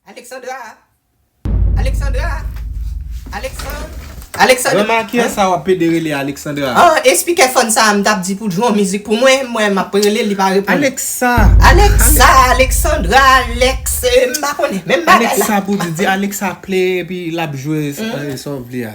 Alexandra! Alexandra! Alexand. Alexand. Grandma ki yè sa wap pede rele Alexandra? Ah espikè fòn sa a m tap di pou l jwe yon mizik pou mwen, m wè map rele l li pa reponn. Alexa! Alexa, Alexandra, Alex m pa konnen menm bagay la. Alexa pou di, di Alexa play epi lap jwe sa w vle a.